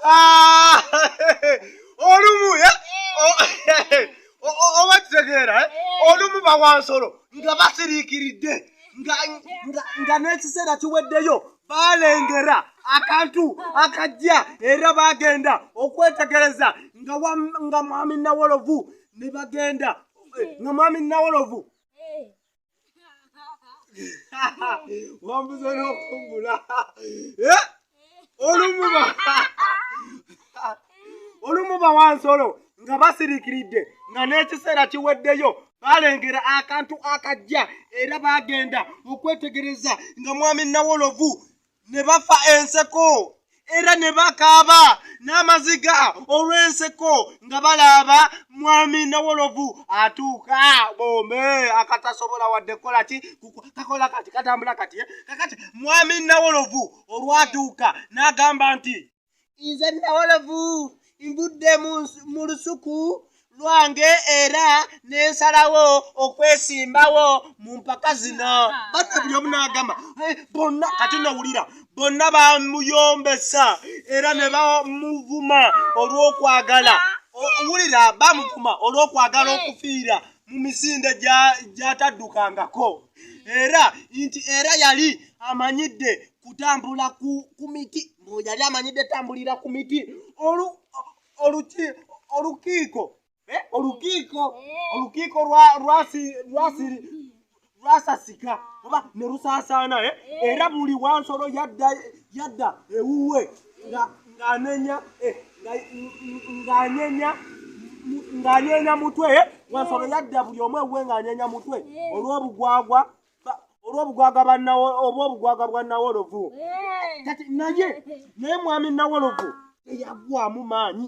Ah, olumu eh? oba kitegeera eh? olumu bawansolo nga basiriikiridde nga n'ekiseera kiweddeyo balengera akantu akajja era bagenda okwetegereza nga mwami nawolovu ne bagenda nga mwami nawolovu wambuza nokumbula eh? olumuba olumuba wansolo nga basirikiridde nga n'ekiseera kiweddeyo balengera akantu akajja era bagenda okwetegereza nga mwami nawolovu ne bafa enseko era ne bakaaba n'amaziga olw'enseko nga balaaba mwami nawolovu atuuka bombe akatasobola wadde kukola ki kakola kati katambula kati eh? kakati mwami nawolovu olwatuuka n'agamba nti nze nawolovu nvudde mu lusuku lwange era nensalawo okwesimbawo mu mpaka zino bata buli omu nagamba eh, bonna kati nowulira bonna bamuyombesa era ne bamuvuma olw'okwagala wulira bamuvuma olw'okwagala okufiira mu misinde gyataddukangako era nti era yali amanyidde kutambula ku, ku miti mbu yali amanyidde tambulira ku miti olu, oluki, olukiiko eh, olukiiko olukiiko lwasasika oba ne lusaasaana eh? era buli wansolo yadda yadda ewuwe ng'anenya eh, ng'anenya ng'anyeenya mutwe eh? wansolo yadda buli omu ewuwe ng'anyeenya mutwe olw'obugwagwa olwobugwaga obwobugwaga bwa nawolovu kati naye naye mwami nawolovu teyagwamu maanyi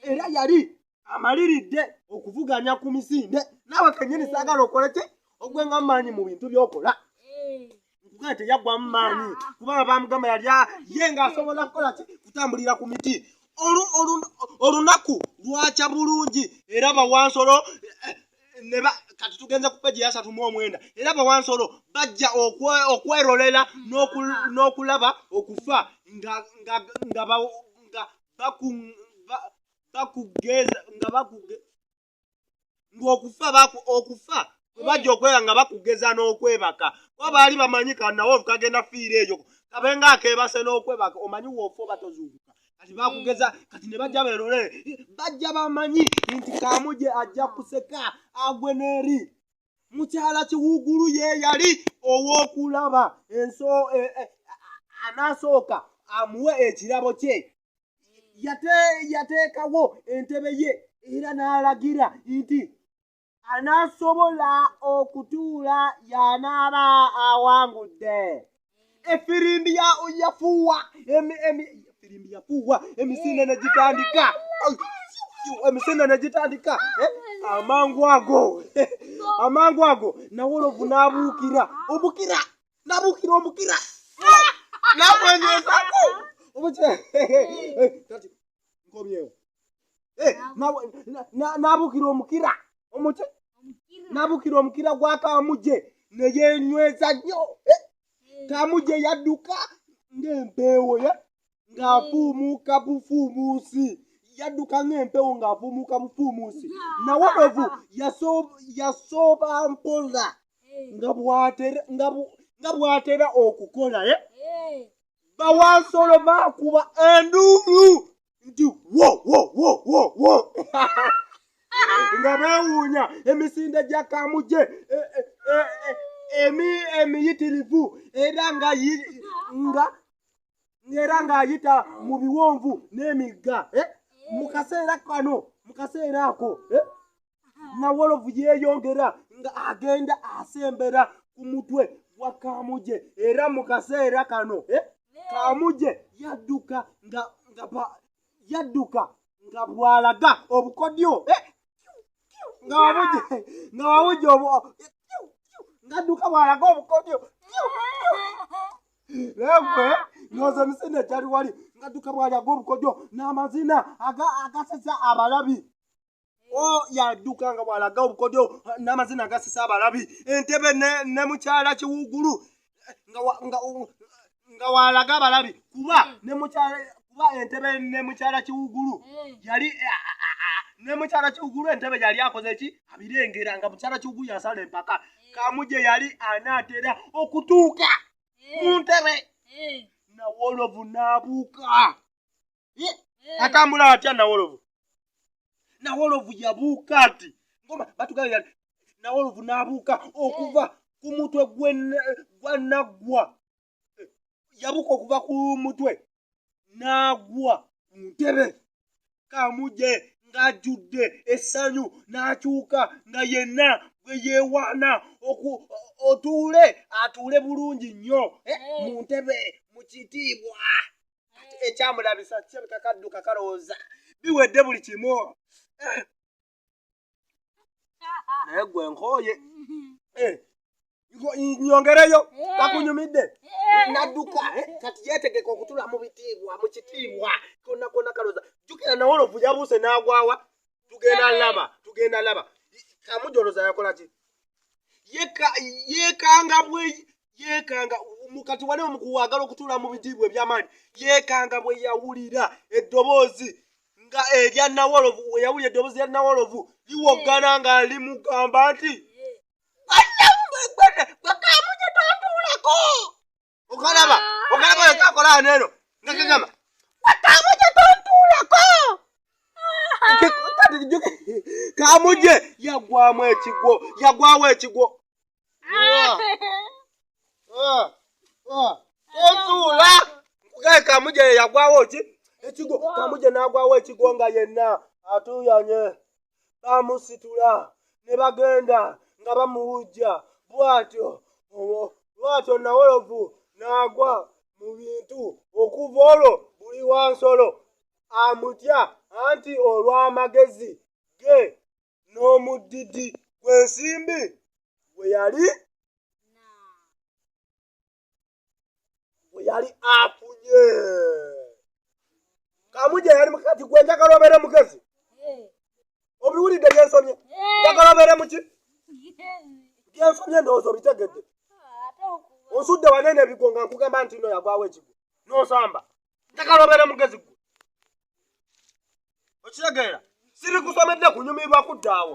era yali amaliridde okuvuganya ku misinde naawe kenyini saagala okola ki ogwenga maanyi mu bintu byokola kugaa teyaggwamu maanyi kubanga bamugamba yali ye ngaasobola kukola ki kutambulira ku miti olunaku lwakya bulungi era bawansolo eh, neba kati tugenze ku peji yasatu mu omwenda era bawansolo bajja okwerolera n'okulaba okufa nga bakugeza nga bakuge ng'okufa okufa bajja okwera nga bakugeza n'okwebaka kuba baali bamanyi kanawo kagenda fiira eyo kabenga akebase n'okwebaka omanyi woofa obatozuukuka kati bakugeza kati ne bajja berolere bajja bamanyi nti kamuje ajja kuseka agwe n'eri mukyala kiwugulu ye yali ow'okulaba enso e, e, anaasooka amuwe ekirabo kye yateekawo entebe ye era n'alagira nti anaasobola okutuula y'anaaba awangudde efirimbi yafuuwa efirimbi yafuuwa emisinde ne gitandika emisinde ne gitandika eh? amangu ago amangu ago nawolovu n'abuukira obukira n'abuukira obukira n'abwenyezaku nkomyewo Eh, nawe na- na- nabukira omukira omuki nabukira omukira gwa kamuje neyenyweza nnyo Eh, kamuje yadduka ng'empeewo ye ng'afuumuuka bufuumuusi yadduka ng'empeewo ng'afuumuuka bufuumuusi nawolovu yaso- yasooba mpola nga bw'atera- nga bu- nga bw'atera okukola ye bawansolo bakuba enduulu nti wo wo wo wo wo nga beewuunya emisinde gya kamuje e, e, e, emi emiyitirivu era nga nga era ng'ayita mu biwonvu n'emigga mu kaseera kano mu kaseera ako nawolovu yeeyongera nga agenda asembera ku mutwe wa kamuje era mu kaseera kano eh, kamuje yadduka nga yadduka nga bwalaga obukodyo eh, nga wabuje nga wabuje obu eh, ngadduka bwalaga obukodyo naye noza misinde gyali wali ngadduka bwalaga obukodyo n'amazina agasesa abalabi Oh, yaduka nga bwalaga obukodyo n'amazina agasisa abalabi entebe ne mukyala kiwugulu nga walaga abalabi kuba kuba entebe ne mukyala kiwugulu yali ne mukyala kiwugulu entebe yali akoze ki abirengera nga mukyala kiwugulu yasala empaka kamuje yali anaatera okutuuka mu ntebe nawoolovu n'abuuka atambula atya nawolovu nawolovu yabuuka nti ngoma batugabira nawolovu nabuuka okuva ku mutwe gwanaggwa yabuuka okuva ku mutwe n'agwa ku ntebe kamuje ng'ajjudde essanyu n'akyuka nga yenna gwe yeewaana otuule atuule bulungi nnyo eh, mu ntebe mu kitiibwa ate ekyamulabisa kirabika kadduka kalowooza biwedde buli kimu eh. naye gwe nkooye eh. nyongereyo eh. kakunyumidde nadduka kati yetegeka okutula mu bitiibwa mu kitiibwa kona kona kalowooza jukira nawe olovu yabuuse n'agwawa tugenda laba tugenda laba kamujoloza yakola ki yeekanga bwe yeekanga mukati wali omukuwaagala okutuula mu bitiibwa ebyamaanyi yeekanga bwe yawulira eddoboozi nga erya nawolovu weyawulira eddoboozi lya nawolovu liwoggana nga limugamba nti bakamujetontuulako okalaba okalaba oyo kyakola ano eno nga kigamba watamu kye tontuulako kamuje yagwamu ekigwo yagwawo ekigwo otuula nkugaye kamuje yagwawo ki ekigwo kamuje nagwawo ekigwo nga yenna atuyanye baamusitula ne bagenda nga bamuwujja bw'atyo bw'atyo nawolovu n'agwa mu bintu okuva olwo buli wa nsolo amutya anti olw'amagezi ge n'omuddidi gw'ensimbi gwe yali bwe yali afunye kamuja yali mukati gwe njagala obeere mugezi obiwulidde byensomye njagala obeere muki byensomye ndowooza obitegedde osudde wanene ebigo nga nkugamba nti no yagwawo ekigo nosamba njagala obeere mugezi gwe okitegeera siri kusomedde kunyumirwa kuddaawo